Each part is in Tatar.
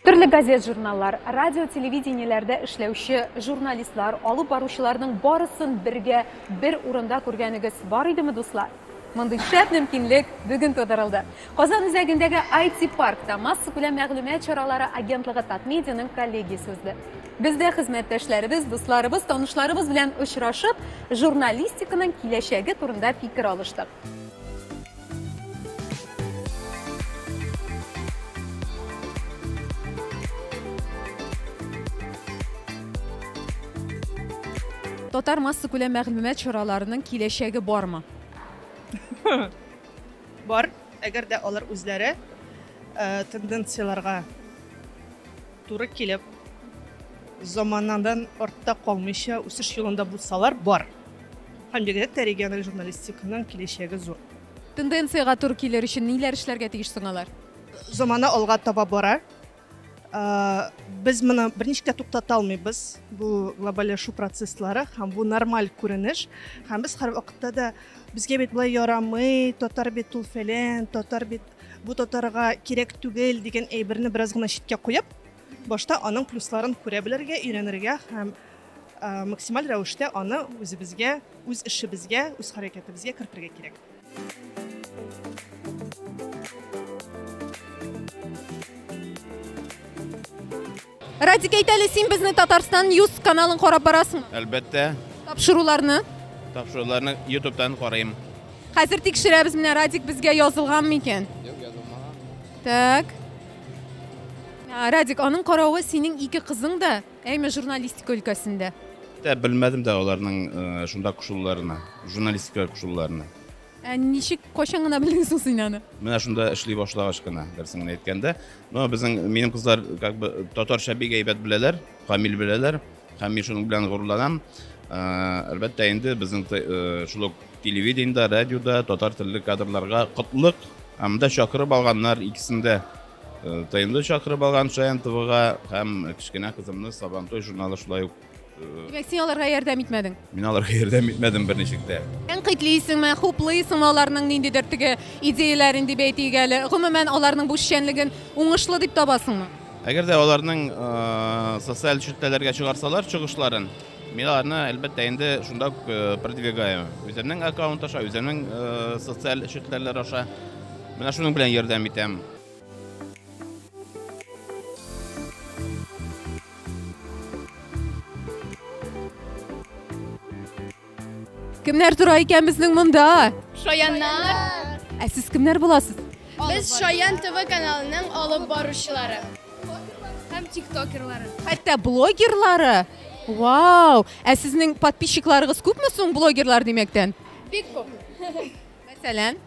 Төрле газет-журналлар, радио-телевидениеләрдә эшләүче журналистлар, алып баручыларның барысын бергә, бер урында күргәнегез бар идеме, дуслар? Мондый шәп мөмкинлек бүген тудырылды. Казан үзәгендәге IT-паркта массакүләм мәгълүмат чаралары агентлыгы Татмедианың коллегиясе узды. Без дә хезмәттәшләребез, дусларыбыз, танышларыбыз белән очрашып, журналистиканың киләчәге турында фикер алыштык. Татар массакүләм мәгълүмат чараларының киләчәге бармы? Бар, әгәр дә алар үзләре э, тенденцияләргә туры килеп, заманадан артта калмыйча үсеш юлында булсалар, бар. Һәм бигрәк тә региональ журналистиканың киләчәге зур. Тенденциягә туры килер өчен ниләр эшләргә тиеш соң алар? Замана алга таба бара. Ә, Без моны берничек тә туктата алмыйбыз. Бу глобальләшү процесслары һәм бу нормаль күренеш. Һәм без һәрвакытта да безгә бит болай ярамый, татар бит ул фәлән, татар бит бу татарга кирәк түгел дигән әйберне бераз гына читкә куеп, башта аның плюсларын күрә белергә, өйрәнергә һәм максималь рәвештә аны үзебезгә, үз эшебезгә, үз хәрәкәтебезгә кертергә кирәк. Радик, әйт әле, син безне Татарстан News каналын карап барасың. Әлбәттә. Тапшыруларны? Тапшыруларны ютубтан карыйм. Хәзер тикшерәбез, менә Радик безгә язылганмы микән? Юк, язылмаган. Так. Радик, аның каравы синең ике кызың да Әйме журналистика өлкәсендә? Тә белмәдем дә аларның шунда кушылуларына, журналистикага кушылуларына. Ә ничек, кайчан гына белдең соң син аны? Менә шунда эшли башлагач кына, дөресен генә әйткәндә. Но безнең минем кызлар как бы татарча бик әйбәт беләләр, камил беләләр һәм мин шуның белән горурланам. Әлбәттә инде безнең шул ук телевидениедә, радиода татар телле кадрларга котлык. Ә монда чакырып алганнар икесен дә Э, тнды чакырып алган шаян твга һәм кечкенә кызымны сабантуй журналы шулай ук э, димәк син аларга ярдәм итмәдең мин аларга ярдәм итмәдем берничек тә тәнкыйтьлисеңме хуплыйсыңмы аларның ниндидер теге идеяләрен дип әйтик әле гомумән аларның бу эшчәнлеген уңышлы дип табасыңмы әгәр дә аларның э, социаль челтәләргә чыгарсалар чыгышларын Мин аларны, әлбәттә, инде шунда ук э, продвигаю. Үземнең аккаунт аша, үземнең э, социаль челтәрләр аша. Менә шуның белән ярдәм итәм. Кемнәр тора икән безнең монда? Шаяннар. Ә сез кемнәр буласыз? Без Шаян ТВ каналының алып баручылары. Һәм тиктокерлары. Хәтта блогерлары Вау! Ә сезнең подписчикларыгыз күпме соң блогерлар димәктән? Бик күп. Мәсәлән?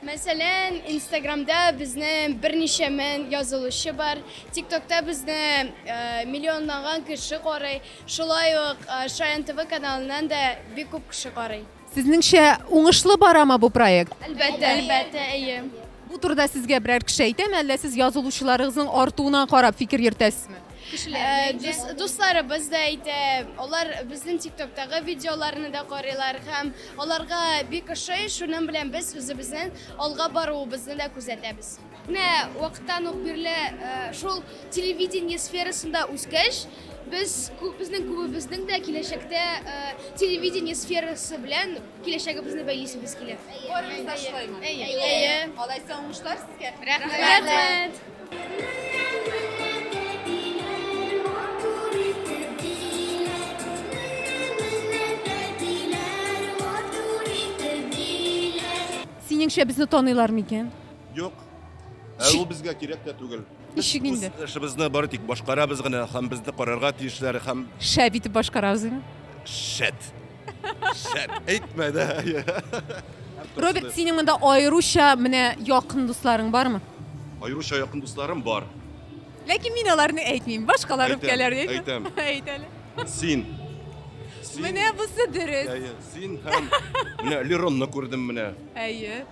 Мәсәлән, Инстаграмда безне берничә мең язылучы бар. ТикТокта безне э, миллионлаган кеше карый. Шулай ук э, Шаян ТВ каналыннан да бик күп кеше карый. Сезнеңчә, уңышлы барамы бу проект? Әлбәттә. Әлбәттә, әйе. Бу турыда сезгә берәр кеше әйтәме, әллә сез язылучыларыгызның артуына карап фикер йөртәсезме? Э, дусларыбыз да әйтә алар безнең тиктоктагы видеоларны да карыйлар һәм аларга бик ошый шуның белән без үзебезнең алга баруыбызны да күзәтәбез менә вакыттан ук бирле э, шул телевидение сферасында үскәч Без безнең күбебезнең дә киләчәктә телевидение сферасы белән киләчәгебезне бәйлисебез килә. Барыбыз да шулаймы? Әйе. Алайса уңышлар сезгә. Рәхмәт. Синеңчә безне таныйлар микән? Юк. Ә ул безгә кирәк тә түгел. Ничек инде? Без эшебезне бары тик башкарабыз гына һәм безне карарга тиешләр һәм Шәп итеп башкарабыз дими. шәт. Шәт. Әйтмә дә. Роберт, синең монда аеруча менә якын дусларың бармы? Аеруча якын дусларым бар. Ләкин мин аларны әйтмим. Башкалар Әйтәм, үпкәләр дип. әйтәм. Әйт әле. Син. Син. Менә бусы дөрес. Әйе, син һәм менә Леронны күрдем менә. Әйе.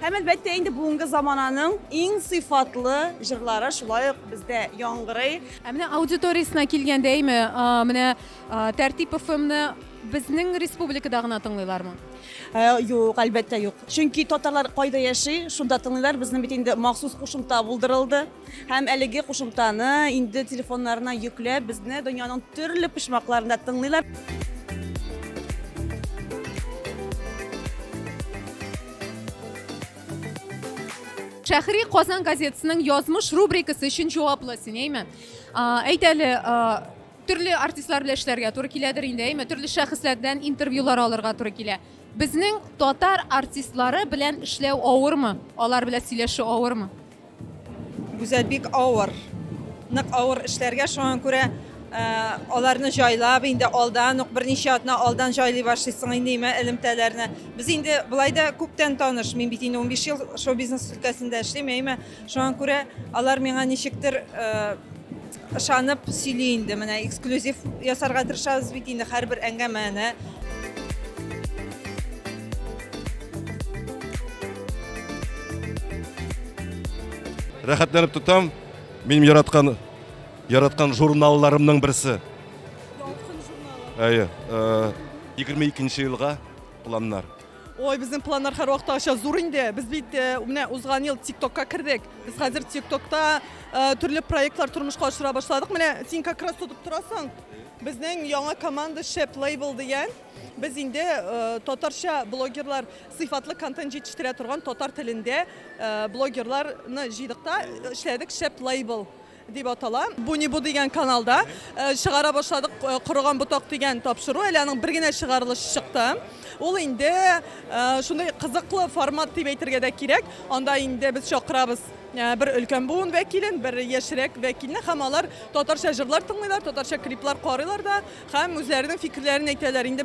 Һәм әлбәттә инде бүгенге замананың иң сыйфатлы җырлары шулай ук бездә яңгырый. Ә менә аудиториясенә килгәндә әйме, менә Тәртип ФМны безнең республикада гына тыңлыйлармы? Ә, юк, әлбәттә юк. Чөнки татарлар кайда яши, шунда тыңлыйлар. Безнең бит инде махсус кушымта булдырылды. Һәм әлеге кушымтаны инде телефоннарына йөкләп, безне дөньяның төрле почмакларында тыңлыйлар. Шәхри Казан газетасының язмыш рубрикасы өчен җаваплы син, әйме? Әйт әле, төрле артистлар белән эшләргә туры киләдер инде, әйме? Төрле шәхесләрдән интервьюлар алырга туры килә. Безнең татар артистлары белән эшләү авырмы? Алар белән сөйләшү авырмы? Гүзәл бик авыр. Нык авыр эшләргә шуңа күрә э, аларны җайлап инде алдан ук берничә атна алдан җайлый башлыйсың инде имә элемтәләрне. Без инде былай да күптән таныш. Мин бит инде 15 ел шоу-бизнес өлкәсендә эшлим, әйме. Шуңа күрә алар миңа ничектер э, Ышанып сөйли инде, менә эксклюзив ясарга тырышабыз бит инде һәрбер әңгәмәне. Рәхәтләнеп тотам. Минем яраткан яраткан журналларымның берсе. Ялкын журналы. Әйе. 22 елга планнар. Ой, безнең планнар һәрвакыт аша зур инде. Без бит э, менә узган ел ТикТокка кердек. Без хәзер ТикТокта э, төрле проектлар тормышка ашыра башладык. Менә син как раз тотып торасың. Безнең яңа команда Шеп Лейбл дигән. Без инде э, татарча блогерлар сыйфатлы контент җитештерә торган татар телендә блогерларны җыйдык та эшләдек Шеп Лейбл. Дип атала. Бу ни бу дигән каналда чыгара башладык Корыган ботак дигән тапшыру. Әле аның бер генә чыгарылышы чыкты. Ул инде шундый кызыклы формат дип әйтергә дә кирәк. Анда инде без чакырабыз бер өлкән буын вәкилен, бер яшьрәк вәкилне һәм алар татарча җырлар тыңлыйлар, татарча клиплар карыйлар да һәм үзләренең фикерләрен әйтәләр. Инде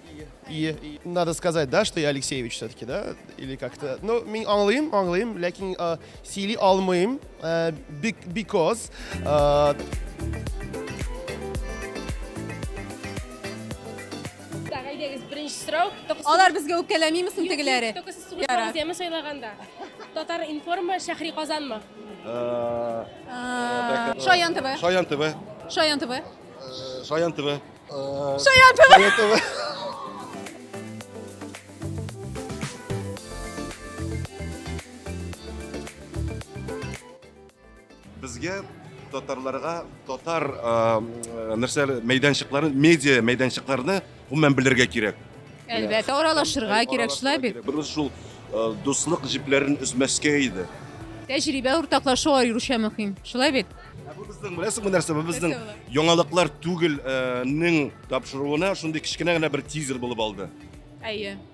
И, и надо сказать, да, что я Алексеевич все-таки, да? Или как-то... Ну, мин аңлыйм, аңлыйм, ләкин ә, сөйли алмыйм, ә, because... Ә... Алар безгә үпкәләмиме соң тегеләре? Только сез сугыш вакытымы сайлаганда. Татар информа шәһри Казанмы? Шаян ТВ. Шаян ТВ. Шаян ТВ. Шаян ТВ. Шаятова! Безгә татарларга татар нәрсә мәйданчыкларын, медиа мәйданчыкларны гомумән белергә кирәк. Әлбәттә, аралашырга кирәк, шулай бит. Берүз шул дуслык җипләрен өзмәскә иде. Тәҗрибә уртаклашу аеруча мөһим. Шулай бит? Бу безнең беләсеңме нәрсә? Бу безнең яңалыклар түгелнең тапшыруына шундый кечкенә генә бер тизер булып алды. Әйе.